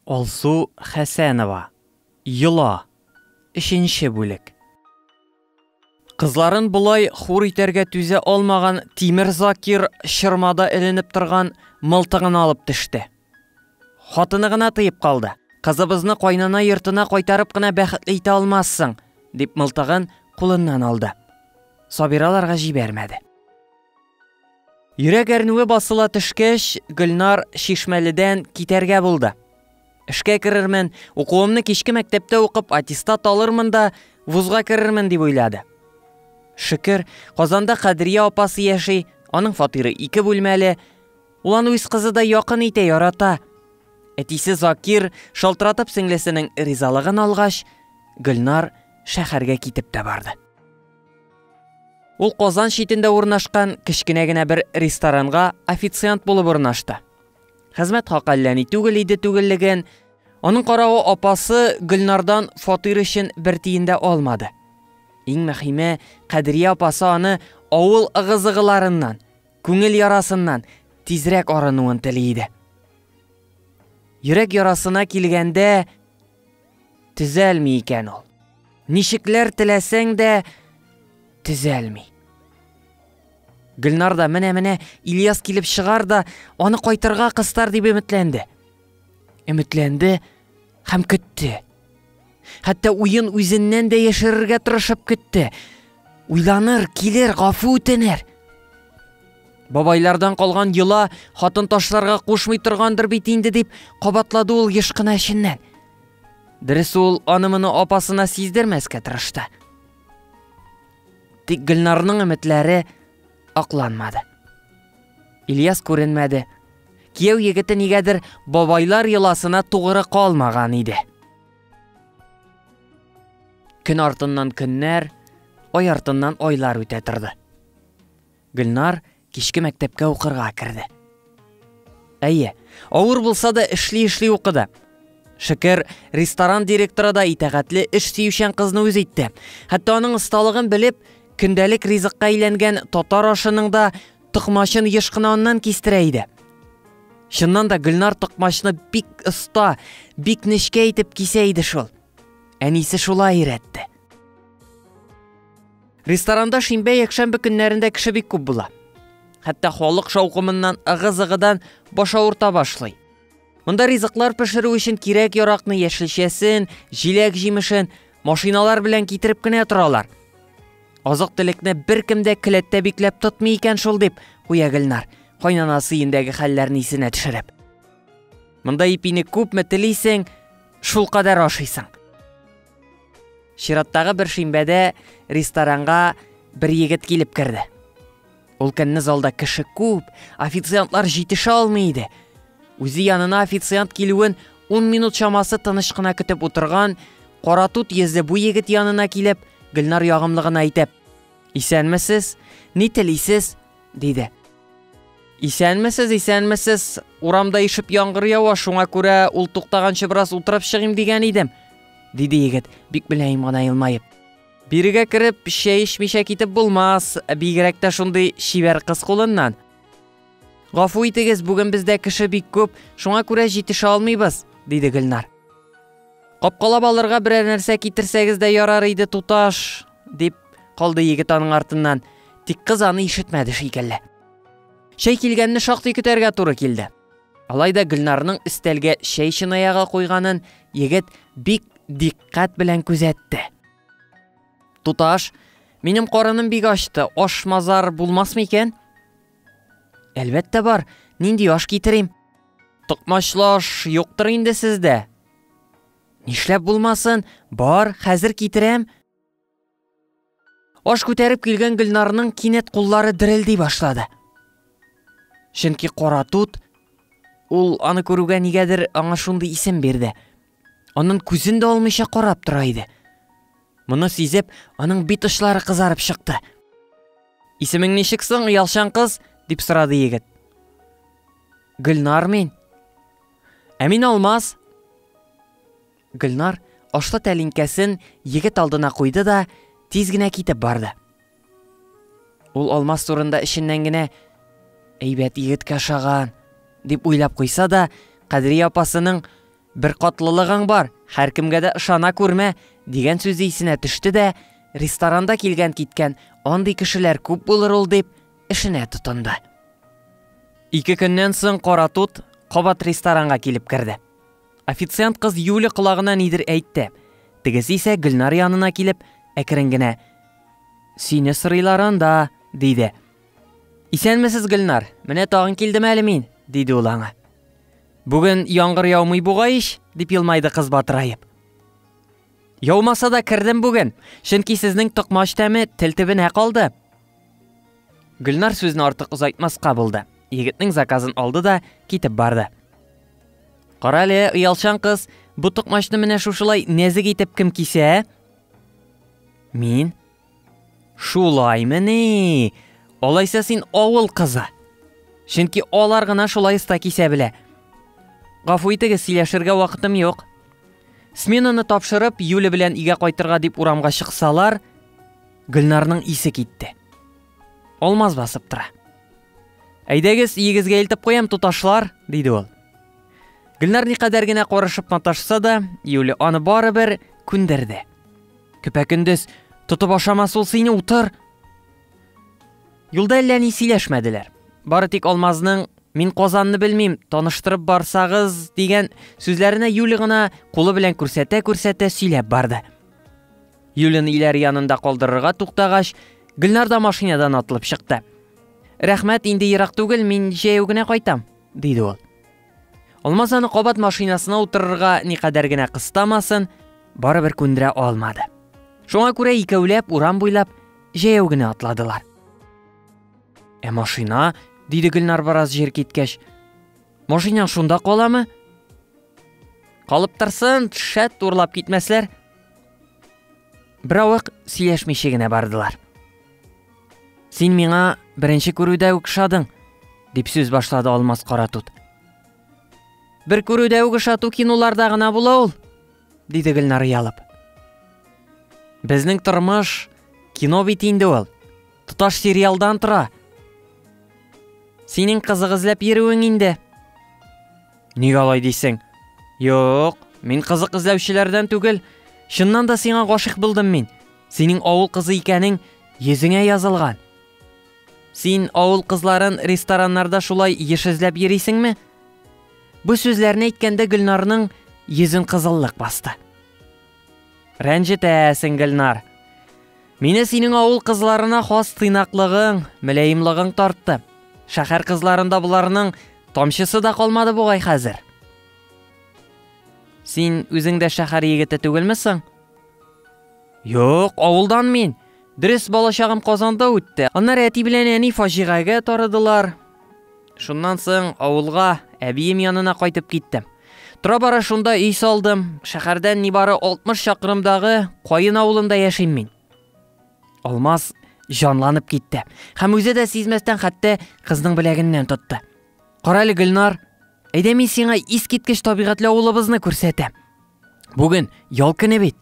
Алсу Хәсәнова, Йола, өченче бүлек. Кызларын болай хур итәргә түзә алмаган Тимер Закир чормада эленеп торган мылтыгын алып төште. Хатыны гына тыеп калды. Кызыбызны кайнана йортына кайтарып кына бәхетле итә алмассың, дип мылтыгын кулыннан алды. Сабираларга җибәрмәде. Йөрәк әрнүе басыла төшкәч, Гөлнар Чишмәледән китәргә булды. Эшкә керермен, укуымны кичке мәктәптә укып аттестат алырмын да, вузга керермен дип уйлады. Шөкер, Казанда Кадрия апасы яши, аның фатиры ике бүлмәле. Ул аны үз кызыдай якын итә, ярата. Әтисе Закир шалтыратып сеңлесенең ризалыгын алгач, Гөлнар шәһәргә китеп тә барды. Ул Казан читендә урнашкан кечкенә генә бер ресторанга официант булып урнашты. Хезмәт хакы әллә ни түгел иде түгеллеген, аның каравы апасы Гөлнардан фатир өчен бер тиен дә алмады. Иң мөһиме, Кадрия апасы аны авыл ыгы-зыгыларыннан, күңел ярасыннан тизрәк арынуын тели иде. Йөрәк ярасына килгәндә, Төзәлми икән ул. Ничекләр теләсәң дә төзәлми. Гөлнар да менә-менә Ильяс килеп чыгар да, аны кайтырга кыстар дип өметләнде. Өметләнде һәм көтте. Хәтта уен үзеннән дә яшерергә тырышып көтте. Уйланыр, килер, гафу үтенер. Бабайлардан калган йола хатын ташларга кушмый торгандыр бит инде, дип кабатлады ул еш кына эченнән. Дөрес ул аны-моны апасына сиздермәскә тырышты. Тик Гөлнарның өметләре акланмады. Ильяс күренмәде. Кияү егете нигәдер бабайлар йоласына тугры калмаган иде. Көн артыннан көннәр, ай артыннан айлар үтә торды. Гөлнар кичке мәктәпкә укырга керде. Әйе, авыр булса да эшли-эшли укыды. Шөкер, ресторан директоры да итәгатьле эш сөючән кызны үз итте. Хәтта аның осталыгын белеп, көндәлек ризыкка әйләнгән татар ашының да токмачын еш кына аннан кистерә иде. Чыннан да Гөлнар токмачны бик оста, бик нечкә итеп кисә иде шул. Әнисе шулай өйрәтте. Ресторанда шимбә-якшәмбе көннәрендә кеше бик күп була. Хәтта халык шаукымыннан ыгы-зыгыдан баш авырта башлый. Монда ризыклар пешерү өчен кирәк-яракны, яшелчәсен, җиләк-җимешен машиналар белән китереп кенә торалар. Азык-төлекне беркем дә келәттә бикләп тотмый икән шул дип куя Гөлнар, кайнанасы өендәге хәлләрне исенә төшереп. Монда ипине күпме телисең, шулкадәр ашыйсың. Чираттагы бер шимбәдә ресторанга бер егет килеп керде. Ул көнне залда кеше күп, официантлар җитешә алмый иде. Үзе янына официант килүен 10 минут чамасы тыныч кына көтеп утырган каратут йөзле бу егет янына килеп, Гөлнар ягымлы гына әйтеп, "Исәнмесез? Ни телисез?" Диде. Исәнмесез, исәнмесез. Урамда ишеп яңгыр ява, шуңа күрә ул туктаганчы бераз утырып чыгыйм дигән идем, диде егет, бик мөлаем гына елмаеп. Бирегә кереп, чәй эчмичә китеп булмас, бигрәк тә шундый чибәр кыз кулыннан. Гафу итегез, бүген бездә кеше бик күп, шуңа күрә җитешә алмыйбыз, диде Гөлнар. Капкалап алырга берәр нәрсә китерсәгез дә ярар иде, туташ, дип Калды егет аның артыннан. Тик кыз аны ишетмәде шикелле. Чәй килгәнне шактый көтәргә туры килде. Алай да Гөлнарның өстәлгә чәй чынаягы куйганын егет бик диккать белән күзәтте. Туташ, минем карыным бик ачты, аш мазар булмасмы икән? Әлбәттә бар, нинди аш китерим? Токмачлы аш юктыр инде сездә. Нишләп булмасын, бар, хәзер китерәм, Аш күтәреп килгән Гөлнарның кинәт куллары дерелди башлады. Чөнки кара тут ул аны күрүгә нигәдер аңа шундый исем бирде. Анын күзен дә алмыйча карап тора иде. Моны сизеп, аның бит очлары кызарып чыкты. Исемең ничек соң, ялчан кыз? дип сорады егет. Гөлнар мин. Ә мин Алмаз. Гөлнар ашлы тәлинкәсен егет алдына куйды да, тиз генә китеп барды. Ул Алмаз турында эченнән генә әйбәт егеткә ошаган дип уйлап куйса да, Кадрия апасының бер катлылыгың бар, һәркемгә дә ышана күрмә дигән сүзе исенә төште дә, ресторанда килгән-киткән андый кешеләр күп булыр ул дип, эшенә тотынды. Ике көннән соң Кара тут кабат ресторанга килеп керде. Официант кыз Юля колагына нидер әйтте. Тегесе исә Гөлнар янына килеп, әкрен генә Сине сырыйлар анда, диде. Исәнмесез, Гөлнар. Менә тагын килдем әле мин, диде ул аңа. Бүген яңгыр яумый бугай ич, дип елмайды кыз батыраеп. Яумаса да кердем бүген, чөнки сезнең токмач тәме тел төбенә калды. Гөлнар сүзне артык озайтмаска булды. Егетнең заказын алды да китеп барды. Кара әле, оялчан кыз, бу токмачны менә шушылай нәзек итеп кем кисә? Мин? Шулаймыни? Алайса син авыл кызы. Чөнки алар гына шулай оста кисә белә. Гафу итегез, сөйләшергә вакытым юк. Сменаны тапшырып, Юля белән өйгә кайтырга дип урамга чыксалар, Гөлнарның исе китте. Алмаз басып тора. Әйдәгез, иегезгә илтеп куям, туташлар, диде ул. Гөлнар никадәр генә карышып маташса да, Юлия аны барыбер күндерде. Көпә-көндез тотып ашамас ул сине, утыр. Юлда әллә ни сөйләшмәделәр. Бары тик Алмазның Мин Казанны белмим, таныштырып барсагыз дигән сүзләренә Юли гына кулы белән күрсәтә-күрсәтә сөйләп барды. Юлен Иләр янында калдырырга туктагач, Гөлнар да машинадан атылып чыкты. Рәхмәт, инде ерак түгел, мин җәяү генә кайтам, диде ул. Алмаз аны кабат машинасына утырырга никадәр генә кыстамасын, барыбер күндерә алмады. Шуңа күрә икәүләп урам буйлап җәяү генә атладылар. Ә машина, диде Гөлнар бераз җир киткәч. Машинаң шунда каламы? Калып торсын, шәт турлап китмәсләр, Беравык сөйләшмичә генә бардылар. Син миңа беренче күрүдә үк шадың, дип сүз башлады Алмаз Каратут. Бер күрүдә үк шату кинуларда гына була ул, диде Гөлнар ялып. Безнең тормыш кино бит инде ул. Тоташ сериалдан тора. Синең кызык эзләп йөрүең инде. Ник алай дисең? Юк, мин кызык эзләүчеләрдән түгел. Чыннан да сиңа гашыйк булдым мин. Синең авыл кызы икәнең йөзеңә язылган. Син авыл кызларын рестораннарда шулай еш эзләп йөрисеңме? Бу сүзләрне әйткәндә Гөлнарның йөзен кызыллык басты. Рәнҗетәсең, Гөлнар. Мине синең авыл кызларына хас тыйнаклыгың, мөләемлыгың тартты. Шәһәр кызларында боларның тамчысы да калмады бугай хәзер. Син үзең дә шәһәр егете түгелме соң? Юк, авылдан мин. Дөрес балачагым Казанда үтте. Аннары әти белән әни фаҗигагә тарыдылар. Шуннан соң авылга, әбием янына кайтып киттем. Тора-бара шунда өй салдым. Шәһәрдән нибары 60 чакрымдагы Каен авылында яшим мин. Алмаз җанланып китте. Һәм үзе дә сизмәстән хәтта кызның беләгеннән тотты. Карале Гөлнар, әйдә мин сиңа искиткеч табигатьле авылыбызны күрсәтәм. Бүген ял көне бит.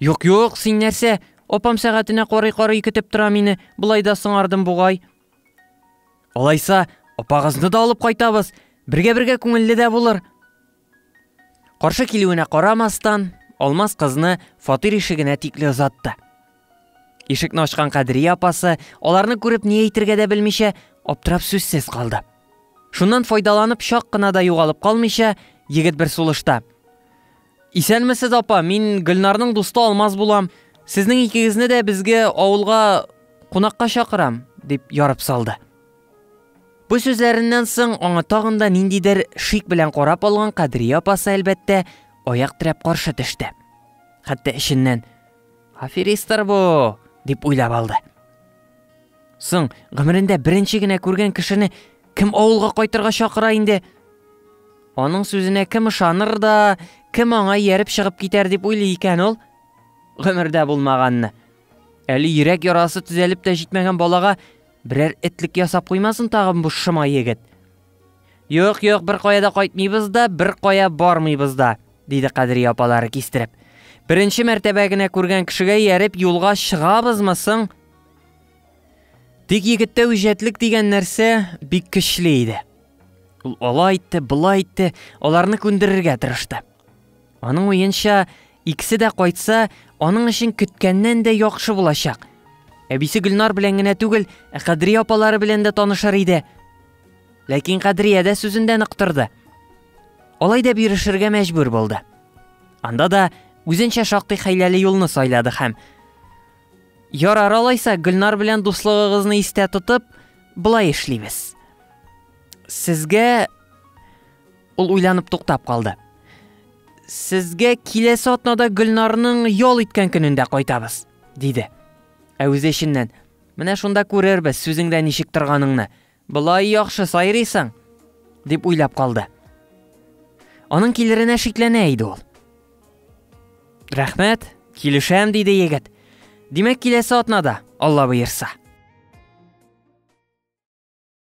Юк, юк, син нәрсә? Апам сәгатенә карый-карый көтеп тора мине. Болай да соңардым бугай. Алайса, апагызны да алып кайтабыз. Бергә-бергә күңелле дә булыр. Каршы килүенә карамастан, Алмаз кызны фатир ишегенә тикле озатты. Ишекне ачкан Кадрия апасы, аларны күреп ни әйтергә дә белмичә, аптырап сүзсез калды. Шуннан файдаланып чак кына да югалып калмыйча, егет бер сулышта. Исәнмесез, апа, мин Гөлнарның дусты Алмаз булам. Сезнең икегезне дә безгә авылга кунакка чакырам, дип ярып салды. Бу сүзләреннән соң аңа тагын да ниндидер шик белән карап алган Кадрия апасы әлбәттә аяк терәп каршы төште. Хәтта эченнән аферисттер бу дип уйлап алды. Соң гомерендә беренче генә күргән кешене Кем авылга кайтырга чакыра инде? Аның сүзенә кем ышаныр да, кем аңа ияреп чыгып китәр дип уйлый икән ул? Гомердә булмаганны. Әле йөрәк ярасы төзәлеп тә җитмәгән балага берәр этлек ясап куймасын тагын бу шыма егет. Юк, юк, бер кая да кайтмыйбыз да, бер кая бармыйбыз да, диде Кадри апалары кистереп. Беренче мәртәбә генә күргән кешегә ияреп юлга чыгабызмы соң? Тик егеттә үҗәтлек дигән нәрсә бик көчле иде. Ул алай итте, былай итте, аларны күндерергә тырышты. Аның уенча, икесе дә кайтса, аның өчен көткәннән дә яхшы булачак. Әбисе Гөлнар белән генә түгел, ә Кадрия апалары белән дә танышыр иде. Ләкин Кадрия дә сүзендә нык торды. Алай да бирешергә мәҗбүр булды. Анда да үзенчә шактый хәйләле юлны сайлады һәм Ярар алайса, Гөлнар белән дуслыгыгызны истә тотып, былай эшлибез. Сезгә ул уйланып туктап калды. Сезгә киләсе атнада Гөлнарның ял иткән көнендә кайтабыз, диде. Ә үзе эченнән, менә шунда күрербез сүзеңдә ничек торганыңны. Болай яхшы сайрыйсың! дип уйлап калды. Аның килеренә шикләнә иде ул. Рәхмәт, килешәм, диде егет. Димәк, киләсе атнада, Алла боерса.